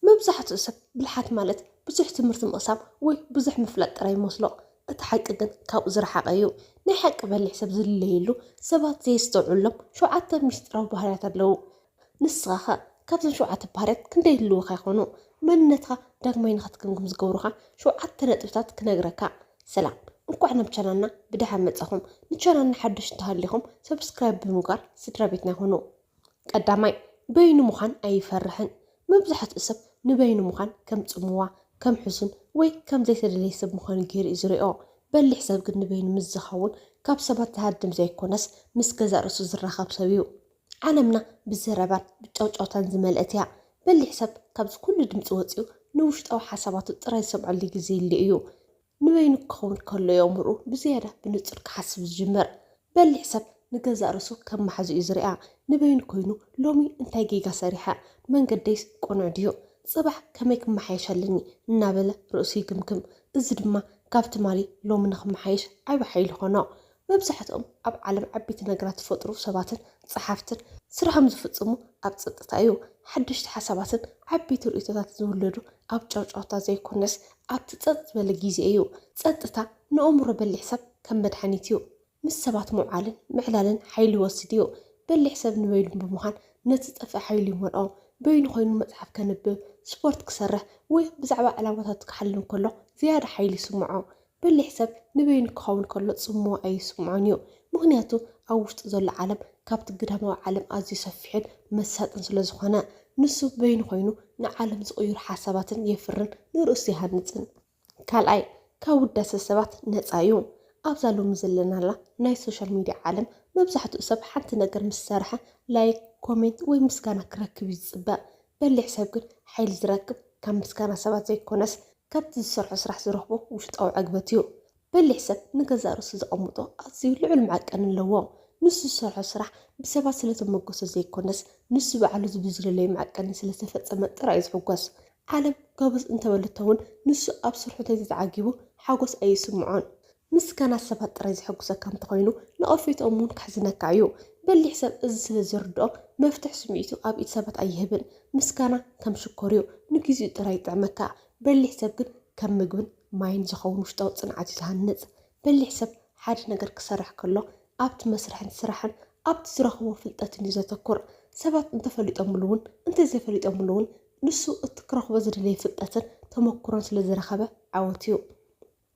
መብዛሕትኡ ሰብ ብልሓት ማለት ብዙሕ ትምህርቲ ምቕሳም ወይ ብዙሕ ምፍላጥ ጥራይ ይመስሎ። እቲ ሓቂ ግን ካብኡ ዝረሓቐ እዩ። ናይ ሓቂ በሊሕ ሰብ ዝልለየሉ ሰባት ዘየስተውዕሎም ሸውዓተ ምስጢራዊ ባህርያት ኣለዉ። ንስኻኸ ካብዞም ሸውዓተ ባህርያት ክንደይ ይህልዉኻ ይኾኑ? መንነትካ ዳግማይ ንኽትግምግም ዝገብሩኻ ሸውዓተ ነጥብታት ክነግረካ። ሰላም እንኳዕ ናብ ቻናልና ብደሓን መጻኹም ንቻናልና ሓዱሽ እንተሃሊኹም ሰብስክራይብ ብምግባር ስድራቤትና ኩኑ። ቀዳማይ፣ በይኑ ምዃን ኣይፈርሕን። መብዛሕትኡ ሰብ ንበይኑ ምዃን ከም ጽምዋ፣ ከም ሕሱን ወይ ከም ዘይተደልየ ሰብ ምዃኑ ገይሩ እዩ ዝሪኦ። በሊሕ ሰብ ግን ንበይኑ ምስ ዝኸውን ካብ ሰባት ዝሃድም ዘይኮነስ ምስ ገዛእ ርእሱ ዝራኸብ ሰብ እዩ። ዓለምና ብዘረባን ብጫውጫውታን ዝመልአት እያ። በሊሕ ሰብ ካብዚ ኩሉ ድምጺ ወጺኡ ንውሽጣዊ ሓሳባቱ ጥራይ ዝሰምዐሉ ግዜ ይህሉ እዩ። ንበይኑ ክኸውን ከሎ እዩ ኣእምሮኡ ብዝያዳ ብንጹር ክሓስብ ዝጅምር። በሊሕ ሰብ ንገዛእ ርእሱ ከም ማሓዙ እዩ ዝርኣ። ንበይኑ ኮይኑ ሎሚ እንታይ ጌጋ ሰሪሐ? መንገደይስ ቅኑዕ ድዩ? ጽባሕ ከመይ ክመሓየሽ ኣለኒ? እናበለ ርእሱ ይግምግም። እዚ ድማ ካብ ትማሊ ሎሚ ንኽመሓየሽ ዓቢ ሓይሊ ይኾኖ። መብዛሕትኦም ኣብ ዓለም ዓበይቲ ነገራት ዝፈጥሩ ሰባትን ጸሓፍትን ስርሖም ዝፍጽሙ ኣብ ጸጥታ እዩ። ሓደሽቲ ሓሳባትን ዓበይቲ ርእይቶታትን ዝውለዱ ኣብ ጫውጫውታ ዘይኮነስ ኣብቲ ጸጥ ዝበለ ግዜ እዩ። ጸጥታ ንእምሮ በሊሕ ሰብ ከም መድሓኒት እዩ። ምስ ሰባት ምውዓልን ምዕላልን ሓይሊ ይወስድ እዩ። በሊሕ ሰብ ንበይኑ ብምዃን ነቲ ዝጠፍእ ሓይሉ ይመልኦ። በይኑ ኮይኑ መጽሓፍ ከንብብ፣ ስፖርት ክሰርሕ ወይ ብዛዕባ ዕላማታቱ ክሓልም ከሎ ዝያዳ ሓይሊ ይስምዖ። በሊሕ ሰብ ንበይኑ ክኸውን ከሎ ጽምዋ ኣይስምዖን እዩ፣ ምኽንያቱ ኣብ ውሽጡ ዘሎ ዓለም ካብቲ ግዳማዊ ዓለም ኣዝዩ ሰፊሕን መሳጥን ስለ ዝኾነ። ንሱ በይኑ ኮይኑ ንዓለም ዝቕይሩ ሓሳባትን የፍርን ንርእሱ ይሃንጽን። ካልኣይ፣ ካብ ውዳሰ ሰባት ነጻ እዩ። ኣብዛ ሎሚ ዘለናላ ናይ ሶሻል ሚድያ ዓለም መብዛሕትኡ ሰብ ሓንቲ ነገር ምስ ሰርሐ ላይክ፣ ኮሜንት ወይ ምስጋና ክረክብ እዩ ዝጽበ። በሊሕ ሰብ ግን ሓይሊ ዝረክብ ካብ ምስጋና ሰባት ዘይኮነስ ካብቲ ዝሰርሖ ስራሕ ዝረኽቦ ውሽጣዊ ዕግበት እዩ። በሊሕ ሰብ ንገዛእ ርእሱ ዘቐምጦ ኣዝዩ ልዑል መዐቀኒ ኣለዎ። ንሱ ዝሰርሖ ስራሕ ብሰባት ስለ ተሞገሶ ዘይኰነስ፣ ንሱ ባዕሉ ዝብል ዝደለዮ መዐቀኒ ስለ ዝተፈጸመ ጥራይ እዩ ዝሕጐስ። ዓለም ጎበዝ እንተበለቶ'ውን፣ ንሱ ኣብ ስርሑ እንተዘይተዓጊቡ ሓጐስ ኣይስምዖን። ምስጋና ሰባት ጥራይ ዘሐጉሰካ እንተኾይኑ ነቐፌትኦም እውን ከሕዝነካ እዩ። በሊሕ ሰብ እዚ ስለ ዝርድኦ መፍትሕ ስምዒቱ ኣብ ኢድ ሰባት ኣይህብን። ምስጋና ከም ሽኮር እዩ ንግዚኡ ጥራይ ይጥዕመካ። በሊሕ ሰብ ግን ከም ምግብን ማይን ዝኸውን ውሽጣዊ ጽንዓት እዩ ዝሃንጽ። በሊሕ ሰብ ሓደ ነገር ክሰርሕ ከሎ ኣብቲ መስርሕን ስራሕን ኣብቲ ዝረኽቦ ፍልጠትን እዩ ዘተኩር። ሰባት እንተፈሊጦምሉ እውን እንተዘይፈሊጦምሉ እውን ንሱ እቲ ክረኽቦ ዝደለየ ፍልጠትን ተመኩሮን ስለ ዝረኸበ ዓወት እዩ።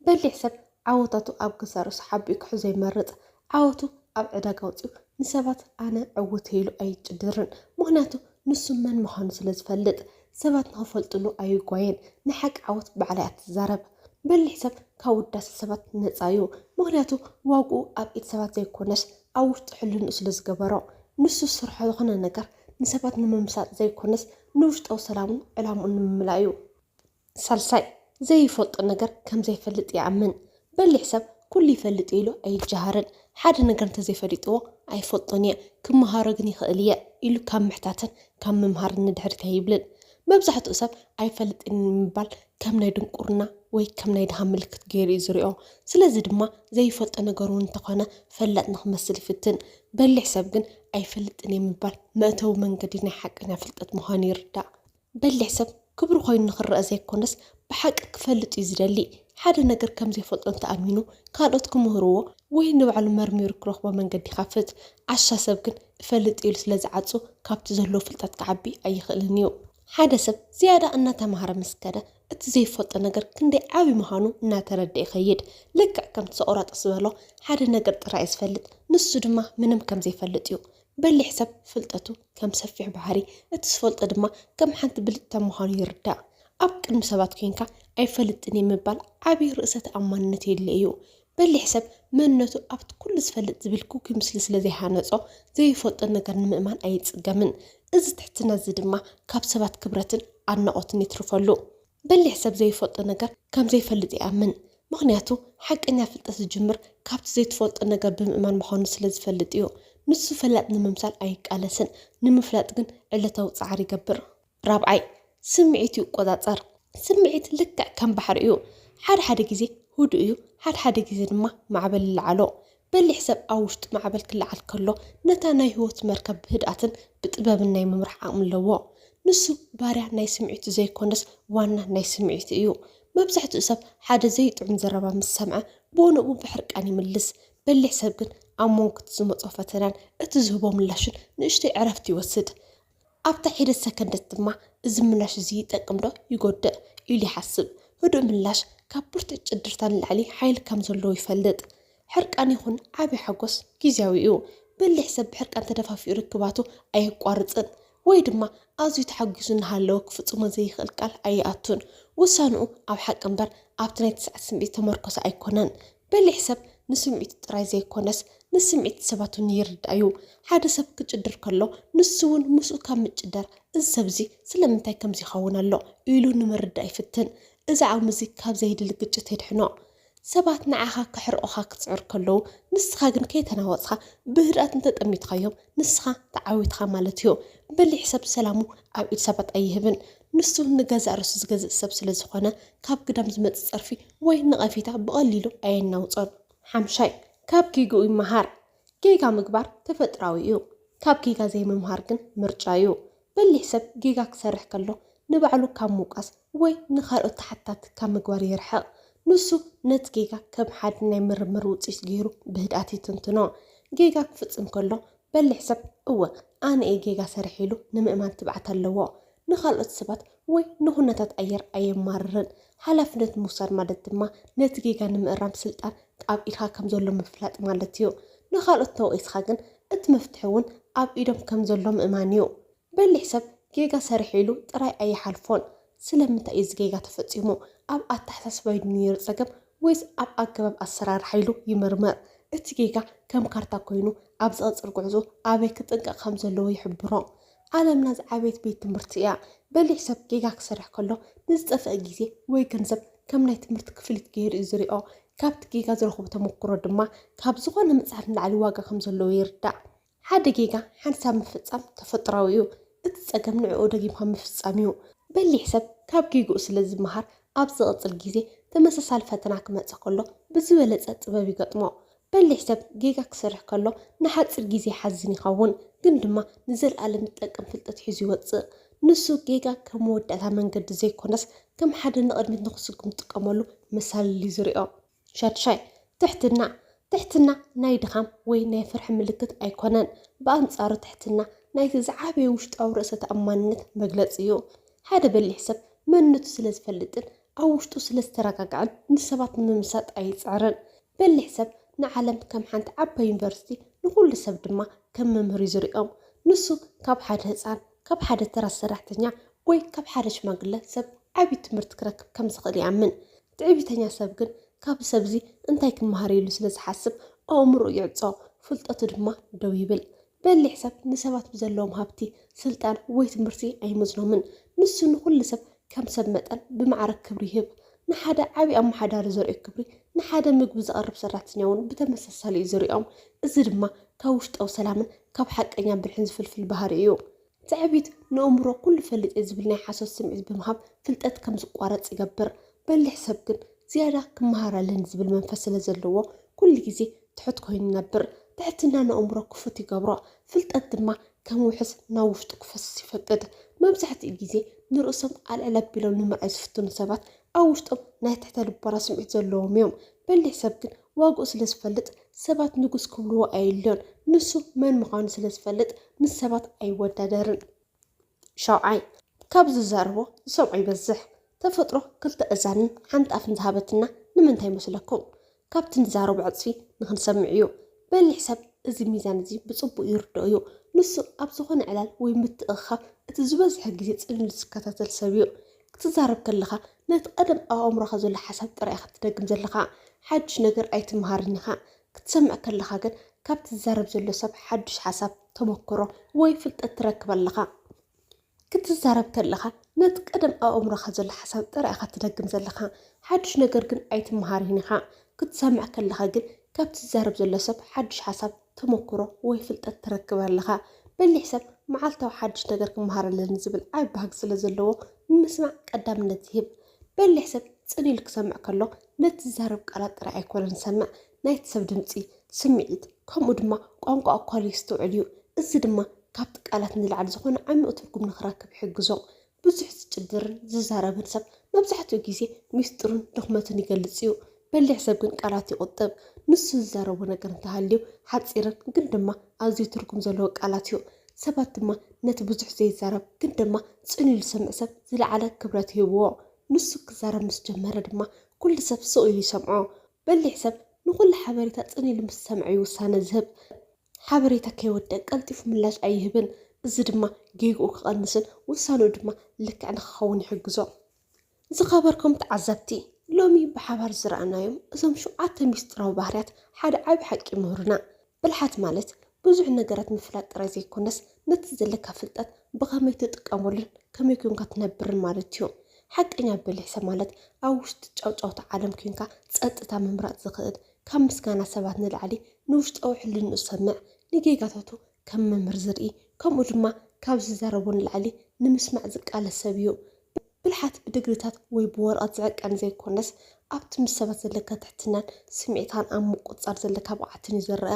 በሊሕ ሰብ ዓወታቱ ኣብ ግሳርሱ ሓቢኡ ክሕዞ ይመርጽ። ዓወቱ ኣብ ዕዳጋ ኣውጺኡ ንሰባት ኣነ ዕዉት እየ ኢሉ ኣይጭድርን። ምኽንያቱ ንሱ መን ምዃኑ ስለ ዝፈልጥ። ሰባት ንኽፈልጥሉ ኣይጓየን። ንሓቂ ዓወት ባዕላ እያ ትዛረብ። በሊሕ ሰብ ካብ ውዳሰ ሰባት ነጻ እዩ። ምኽንያቱ ዋግኡ ኣብ ኢድ ሰባት ዘይኮነስ ኣብ ውሽጢ ሕልንኡ ስለ ዝገበሮ። ንሱ ዝሰርሖ ዝኾነ ነገር ንሰባት ንምምሳጥ ዘይኮነስ ንውሽጣዊ ሰላሙን ዕላምኡን ንምምላእ እዩ። ሳልሳይ፣ ዘይፈልጦ ነገር ከም ዘይፈልጥ ይኣምን። በሊሕ ሰብ ኩሉ ይፈልጥ እየ ኢሉ ኣይጀሃርን። ሓደ ነገር እንተዘይፈሊጥዎ ኣይፈልጦን እየ፣ ክመሃሮ ግን ይኽእል እየ ኢሉ ካብ ምሕታትን ካብ ምምሃርን ንድሕሪት ኣይብልን። መብዛሕትኡ ሰብ ኣይፈልጥን ኢሉ ምባል ከም ናይ ድንቁርና ወይ ከም ናይ ድሃ ምልክት ገይሩ እዩ ዝሪኦ። ስለዚ ድማ ዘይፈልጦ ነገር እውን እንተኾነ ፈላጥ ንክመስል ይፍትን። በሊሕ ሰብ ግን ኣይፈልጥን እየ ምባል መእተዊ መንገዲ ናይ ሓቀኛ ፍልጠት ምዃኑ ይርዳእ። በሊሕ ሰብ ክብሩ ኮይኑ ንኽረኣ ዘይኮነስ ብሓቂ ክፈልጥ እዩ ዝደሊ። ሓደ ነገር ከም ዘይፈልጦ እንተ ኣሚኑ ካልኦት ክምህርዎ ወይ ንባዕሉ መርሚሩ ክረኽቦ መንገዲ ይኸፍት። ዓሻ ሰብ ግን እፈልጥ ኢሉ ስለ ዝዓጹ ካብቲ ዘለዎ ፍልጠት ክዓቢ ኣይኽእልን እዩ። ሓደ ሰብ ዝያዳ እናተማህረ ምስ ከደ እቲ ዘይፈልጦ ነገር ክንደይ ዓቢ ምዃኑ እናተረድኣ ይኸይድ። ልክዕ ከምቲ ሶቅራጦስ ዝበሎ ሓደ ነገር ጥራይ እየ ዝፈልጥ ንሱ ድማ ምንም ከም ዘይፈልጥ እዩ። በሊሕ ሰብ ፍልጠቱ ከም ሰፊሕ ባሕሪ፣ እቲ ዝፈልጦ ድማ ከም ሓንቲ ብልጭታ ምዃኑ ይርዳእ። ኣብ ቅድሚ ሰባት ኴንካ ኣይፈልጥን'የ ምባል ዓቢ ርእሰ ተኣማንነት የድልዮ'ዩ። በሊሕ ሰብ መንነቱ ኣብቲ ኩሉ ዝፈልጥ ዝብል ግጉይ ምስሊ ስለ ዘይሃነጾ ዘይፈልጦ ነገር ንምእማን ኣይጽገምን። እዚ ትሕትና'ዚ ድማ ካብ ሰባት ክብረትን ኣድናቖትን የትርፈሉ። በሊሕ ሰብ ዘይፈልጦ ነገር ከም ዘይፈልጥ ይኣምን፣ ምኽንያቱ ሓቀኛ ፍልጠት ዝጅምር ካብቲ ዘይትፈልጦ ነገር ብምእማን ምዃኑ ስለ ዝፈልጥ እዩ። ንሱ ፈላጥ ንምምሳል ኣይቃለስን፣ ንምፍላጥ ግን ዕለታዊ ጻዕሪ ይገብር። ራብዓይ፣ ስምዒቱ ይቆጻጸር። ስምዒት ልክዕ ከም ባሕሪ እዩ፣ ሓደ ሓደ ግዜ ህዱእ እዩ፣ ሓደ ሓደ ግዜ ድማ ማዕበል ይለዓሎ። በሊሕ ሰብ ኣብ ውሽጡ ማዕበል ክለዓል ከሎ ነታ ናይ ህይወት መርከብ ብህድኣትን ብጥበብን ናይ ምምራሕ ዓቕሚ ኣለዎ። ንሱ ባርያ ናይ ስምዒቱ ዘይኰነስ ዋና ናይ ስምዒቱ እዩ። መብዛሕትኡ ሰብ ሓደ ዘይጥዑም ዘረባ ምስ ሰምዐ ብኡንብኡ ብሕርቃን ይምልስ። በሊሕ ሰብ ግን ኣብ መንጎ እቲ ዝመጾ ፈተናን እቲ ዝህቦ ምላሽን ንእሽቶይ ዕረፍቲ ይወስድ። ኣብታ ሒደት ሰከንደት ድማ እዚ ምላሽ እዚ ይጠቅም ዶ ይጎድእ ኢሉ ይሓስብ። ህዱእ ምላሽ ካብ ብርቱዕ ጭድርታ ንላዕሊ ሓይሊ ከም ዘለዎ ይፈልጥ። ሕርቃን ይኹን ዓቢ ሓጎስ ግዝያዊ እዩ። በሊሕ ሰብ ብሕርቃን ተደፋፊኡ ርክባቱ ኣየቋርጽን ወይ ድማ ኣዝዩ ተሓጒሱ እናሃለወ ክፍጽሞ ዘይክእል ቃል ኣይኣቱን። ውሳንኡ ኣብ ሓቂ እምበር ኣብቲ ናይ ትስዓት ስምዒት ዝተመርኮሰ ኣይኮነን። በሊሕ ሰብ ንስምዒቱ ጥራይ ዘይኰነስ ንስምዒት ሰባት እውን ይርዳእ እዩ። ሓደ ሰብ ክጭድር ከሎ ንሱ እውን ምስኡ ካብ ምጭዳር እዚ ሰብ እዚ ስለምንታይ ከምዚ ይኸውን ኣሎ ኢሉ ንምርዳእ ይፍትን። እዚ ዓቕሚ እዚ ካብ ዘየድሊ ግጭት የድሕኖ። ሰባት ንዓኻ ከሕርቑኻ ክጽዕሩ ከለዉ ንስኻ ግን ከይተናወጽካ ብህድኣት እንተ ጠሚትካዮም ንስኻ ተዓዊትካ ማለት እዩ። በሊሕ ሰብ ሰላሙ ኣብ ኢድ ሰባት ኣይህብን። ንሱ ንገዛእ ርእሱ ዝገዝእ ሰብ ስለ ዝኾነ፣ ካብ ግዳም ዝመጽእ ጸርፊ ወይ ነቐፌታ ብቐሊሉ ኣየናውጾን። ሓምሻይ፣ ካብ ጌግኡ ይመሃር። ጌጋ ምግባር ተፈጥራዊ እዩ። ካብ ጌጋ ዘይምምሃር ግን ምርጫ እዩ። በሊሕ ሰብ ጌጋ ክሰርሕ ከሎ ንባዕሉ ካብ ምውቃስ ወይ ንኻልኦት ተሓታቲ ካብ ምግባር ይርሕቕ። ንሱ ነቲ ጌጋ ከም ሓድ ናይ ምርምር ውጽኢት ገይሩ ብህድኣት ይትንትኖ። ጌጋ ክፍጽም ከሎ በሊሕ ሰብ እወ ኣነ እየ ጌጋ ሰሪሐ ኢሉ ንምእማን ትብዓት ኣለዎ። ንኻልኦት ሰባት ወይ ንኹነታት ኣየር ኣየማርርን። ሓላፍነት ምውሳድ ማለት ድማ ነቲ ጌጋ ንምእራም ስልጣን ኣብ ኢድካ ከም ዘሎ ምፍላጥ ማለት እዩ። ንኻልኦት ተወቒስካ ግን እቲ መፍትሒ እውን ኣብ ኢዶም ከም ዘሎ ምእማን እዩ። በሊሕ ሰብ ጌጋ ሰሪሐ ኢሉ ጥራይ ኣይሓልፎን። ስለምንታይ እዩ እዚ ጌጋ ተፈጺሙ? ኣብ ኣተሓሳስባይ ድዩ ነይሩ ጸገም ወይስ ኣብ ኣገባብ ኣሰራርሓ ኢሉ ይምርምር። እቲ ጌጋ ከም ካርታ ኮይኑ ኣብ ዝቕጽል ጉዕዞኡ ኣበይ ክጥንቀቕ ከም ዘለዎ ይሕብሮ። ዓለምና ዝዓበየት ቤት ትምህርቲ እያ። በሊሕ ሰብ ጌጋ ክሰርሕ ከሎ ንዝጠፍእ ግዜ ወይ ገንዘብ ከም ናይ ትምህርቲ ክፍሊት ገይሩ እዩ ዝሪኦ። ካብቲ ጌጋ ዝረኽቦ ተመኩሮ ድማ ካብ ዝኾነ መጽሓፍ ንላዕሊ ዋጋ ከም ዘለዎ ይርዳእ። ሓደ ጌጋ ሓንሳብ ምፍጻም ተፈጥሮኣዊ እዩ፣ እቲ ጸገም ንዕኡ ደጊምካ ምፍጻም እዩ። በሊሕ ሰብ ካብ ጌግኡ ስለ ዝመሃር ኣብ ዝቕጽል ግዜ ተመሳሳሊ ፈተና ክመጽእ ከሎ ብዝበለጸ ጥበብ ይገጥሞ። በሊሕ ሰብ ጌጋ ክሰርሕ ከሎ ንሓጺር ግዜ ይሓዝን ይኸውን፣ ግን ድማ ንዘልኣለም ዝጠቅም ፍልጠት ሒዙ ይወጽእ። ንሱ ጌጋ ከም መወዳእታ መንገዲ ዘይኰነስ ከም ሓደ ንቕድሚት ንኽስጉም ዝጥቀመሉ መሳልል እዩ ዝሪኦ። ሻድሻይ፣ ትሕትና፣ ትሕትና ናይ ድኻም ወይ ናይ ፍርሒ ምልክት ኣይኮነን። ብኣንጻሩ ትሕትና ናይቲ ዝዓበየ ውሽጣዊ ርእሰ ተኣማንነት መግለጺ እዩ። ሓደ በሊሕ ሰብ መንነቱ ስለ ዝፈልጥን ኣብ ውሽጡ ስለ ዝተረጋግዐን ንሰባት ንምምሳጥ ኣይጽዕርን። በሊሕ ሰብ ንዓለም ከም ሓንቲ ዓባይ ዩኒቨርሲቲ ንኹሉ ሰብ ድማ ከም መምህር እዩ ዝርእዮም። ንሱ ካብ ሓደ ህጻን፣ ካብ ሓደ ተራ ሰራሕተኛ ወይ ካብ ሓደ ሽማግለ ሰብ ዓቢ ትምህርቲ ክረክብ ከም ዝኽእል ይኣምን። ትዕቢተኛ ሰብ ግን ካብዚ ሰብዚ እንታይ ክመሃር ኢሉ ስለ ዝሓስብ ኣእምሮኡ ይዕጾ፣ ፍልጠቱ ድማ ደው ይብል። በሊሕ ሰብ ንሰባት ብዘለዎም ሃብቲ፣ ስልጣን ወይ ትምህርቲ ኣይመዝኖምን። ንሱ ንኹሉ ሰብ ከም ሰብ መጠን ብማዕረ ክብሪ ይህብ። ንሓደ ዓቢ ኣመሓዳሪ ዘርእዮ ክብሪ ንሓደ ምግቢ ዘቕርብ ሰራሕተኛ'ውን ብተመሳሳሊ'ዩ ዝርእዮም። እዚ ድማ ካብ ውሽጣዊ ሰላምን ካብ ሓቀኛ ብልሕን ዝፍልፍል ባህሪ እዩ። ትዕቢት ንእምሮ ኩሉ ፈልጥ'የ ዝብል ናይ ሓሶት ስምዒት ብምሃብ ፍልጠት ከም ዝቋረጽ ይገብር። በሊሕ ሰብ ግን ዝያዳ ክመሃር ኣለኒ ዝብል መንፈስ ስለ ዘለዎ ኩሉ ግዜ ትሑት ኮይኑ ይነብር። ትሕትና ንእምሮ ክፉት ይገብሮ፣ ፍልጠት ድማ ከም ውሕስ ናብ ውሽጡ ክፈስስ ይፈቅድ። መብዛሕትኡ ግዜ ንርእሶም ኣልዕል ኣቢሎም ንምርኣይ ዝፍትኑ ሰባት ኣብ ውሽጦም ናይ ትሕተ ልቦና ስምዒት ዘለዎም'ዮም። በሊሕ ሰብ ግን ዋግኡ ስለ ዝፈልጥ ሰባት ንጉስ ክብልዎ ኣየድልዮን። ንሱ መን ምዃኑ ስለ ዝፈልጥ ምስ ሰባት ኣይወዳደርን። ሻውዓይ፣ ካብ ዝዛረቦ ዝሰምዖ ይበዝሕ። ተፈጥሮ ክልተ እዛንን ሓንቲ ኣፍን ዝሃበትና ንምንታይ ይመስለኩም? ካብቲ ንዛረቦ ዕጽፊ ንኽንሰምዕ እዩ። በሊሕ ሰብ እዚ ሚዛን እዚ ብጽቡቕ ይርድኦ እዩ። ንሱ ኣብ ዝኾነ ዕላል ወይ ምትእኽኻብ እቲ ዝበዝሐ ግዜ ጽን ኢሉ ዝከታተል ሰብ እዩ። ክትዛረብ ከለኻ ነቲ ቀደም ኣብ ኣእምሮኻ ዘሎ ሓሳብ ጥራይ ኢኻ ትደግም ዘለኻ፣ ሓድሽ ነገር ኣይትመሃርን ኢኻ። ክትሰምዕ ከለኻ ግን ካብቲ ዝዛረብ ዘሎ ሰብ ሓድሽ ሓሳብ፣ ተመክሮ ወይ ፍልጠት ትረክብ ኣለኻ። ክትዛረብ ከለኻ ነቲ ቀደም ኣብ ኣእምሮኻ ዘሎ ሓሳብ ጥራይ ኢኻ ትደግም ዘለኻ፣ ሓድሽ ነገር ግን ኣይትመሃርን ኢኻ። ክትሰምዕ ከለኻ ግን ካብቲ ዝዛረብ ዘሎ ሰብ ሓድሽ ሓሳብ፣ ተመኩሮ ወይ ፍልጠት ትረክብ ኣለኻ። በሊሕ ሰብ መዓልታዊ ሓድሽ ነገር ክመሃር ኣለኒ ዝብል ዓቢ ባህጊ ስለ ዘለዎ ንምስማዕ ቀዳምነት ይህብ። በሊሕ ሰብ ጽን ኢሉ ክሰምዕ ከሎ ነቲ ዝዛረብ ቃላት ጥራይ ኣይኮነን ዝሰምዕ፣ ናይቲ ሰብ ድምጺ፣ ስምዒት፣ ከምኡ ድማ ቋንቋ ኣኳሉ የስተውዕል እዩ። እዚ ድማ ካብቲ ቃላት ንላዕሊ ዝኾነ ዓሚቝ ትርጉም ንኽረክብ ይሕግዞ። ብዙሕ ዝጭድርን ዝዛረብን ሰብ መብዛሕትኡ ግዜ ሚስጥሩን ድኽመቱን ይገልጽ እዩ። በሊሕ ሰብ ግን ቃላት ይቑጥብ። ንሱ ዝዛረቦ ነገር እንተሃልዩ ሓጺርን ግን ድማ ኣዝዩ ትርጉም ዘለዎ ቃላት እዩ። ሰባት ድማ ነቲ ብዙሕ ዘይዛረብ ግን ድማ ጽን ኢሉ ዝሰምዕ ሰብ ዝለዓለ ክብረት ይህብዎ። ንሱ ክዛረብ ምስ ጀመረ ድማ ኩሉ ሰብ ስቕ ኢሉ ይሰምዖ። በሊሕ ሰብ ንኹሉ ሓበሬታ ጽን ኢሉ ምስ ዝሰምዐ'ዩ ውሳነ ዝህብ። ሓበሬታ ከይወድእ ቀልጢፉ ምላሽ ኣይህብን፣ እዚ ድማ ጌግኡ ክቐንስን ውሳነኡ ድማ ልክዕ ንኽኸውን ይሕግዞ። ዝኸበርኩም ተዓዘብቲ፣ ሎሚ ብሓባር ዝረኣናዮም እዞም ሸውዓተ ምስጢራዊ ባህርያት ሓደ ዓቢ ሓቂ ይምህሩና። ብልሓት ማለት ብዙሕ ነገራት ምፍላጥ ጥራይ ዘይኮነስ፣ ነቲ ዘለካ ፍልጠት ብኸመይ ትጥቀመሉን ከመይ ኴንካ ትነብርን ማለት እዩ። ሓቀኛ ብልሒ ማለት ኣብ ውሽጢ ጫውጫውታ ዓለም ኴንካ ጸጥታ ምምራጽ ዝኽእል ካብ ምስጋና ሰባት ንላዕሊ ንውሽጣዊ ሕልንኡ ዝሰምዕ፣ ንጌጋታቱ ከም መምህር ዝርኢ፣ ከምኡ ድማ ካብ ዝዛረቦ ንላዕሊ ንምስማዕ ዝቃለስ ሰብ እዩ። ብልሓት ብድግሪታት ወይ ብወረቐት ዝዕቀን ዘይኮነስ፣ ኣብቲ ምስ ሰባት ዘለካ ትሕትናን ስምዒትካን ኣብ ምቁጽጻር ዘለካ ብቕዓትን እዩ ዝረኣ።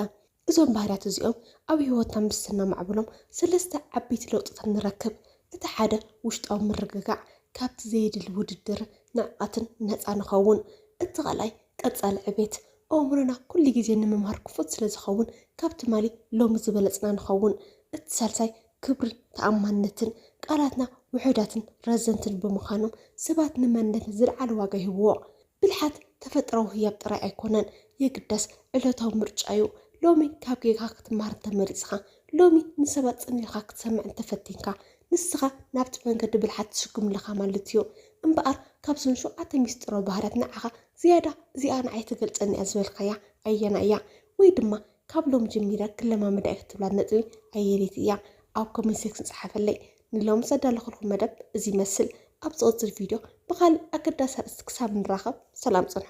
እዞም ባህርያት እዚኦም ኣብ ህይወትና ምስ ስናማዕብሎም ሰለስተ ዓበይቲ ለውጥታት ንረክብ። እቲ ሓደ ውሽጣዊ ምርግጋዕ፣ ካብቲ ዘየድሊ ውድድርን ንዕቀትን ነጻ ንኸውን። እቲ ካልኣይ ቀጻሊ ዕቤት፣ ኣእምሮና ኩሉ ግዜ ንምምሃር ክፉት ስለ ዝኸውን ካብ ትማሊ ሎሚ ዝበለጽና ንኸውን። እቲ ሳልሳይ ክብርን ተኣማንነትን፣ ቃላትና ውሑዳትን ረዘንትን ብምኻኖም ሰባት ንመንነትና ዝለዓለ ዋጋ ይህብዎ። ብልሓት ተፈጥራዊ ህያብ ጥራይ ኣይኮነን የግዳስ ዕለታዊ ምርጫ እዩ። ሎሚ ካብ ጌጋኻ ክትመሃር እንተመሪጽኻ፣ ሎሚ ንሰባት ጽን ኢልካ ክትሰምዕ እንተፈቲንካ፣ ንስኻ ናብቲ መንገዲ ብልሓት ትስጉም ኣለኻ ማለት እዩ። እምበኣር ካብዘን ሸውዓተ ምስጢራዊ ባህርያት ንዓኻ ዝያዳ እዚኣ ንዓይ ትገልጸኒ እያ ዝበልካያ ኣየናይ እያ? ወይ ድማ ካብ ሎሚ ጀሚረ ክለማመዳ እየ እትብላ ነጥቢ ኣየነይቲ እያ? ኣብ ኮሜንት ሴክሽን ጽሓፈለይ። ንሎሚ ዘዳለኹልኩም መደብ እዚ ይመስል። ኣብ ዝቕጽል ቪድዮ ብኻልእ ኣገዳሲ ኣርእስቲ ክሳብ ንራኸብ ሰላም ጽንሑ።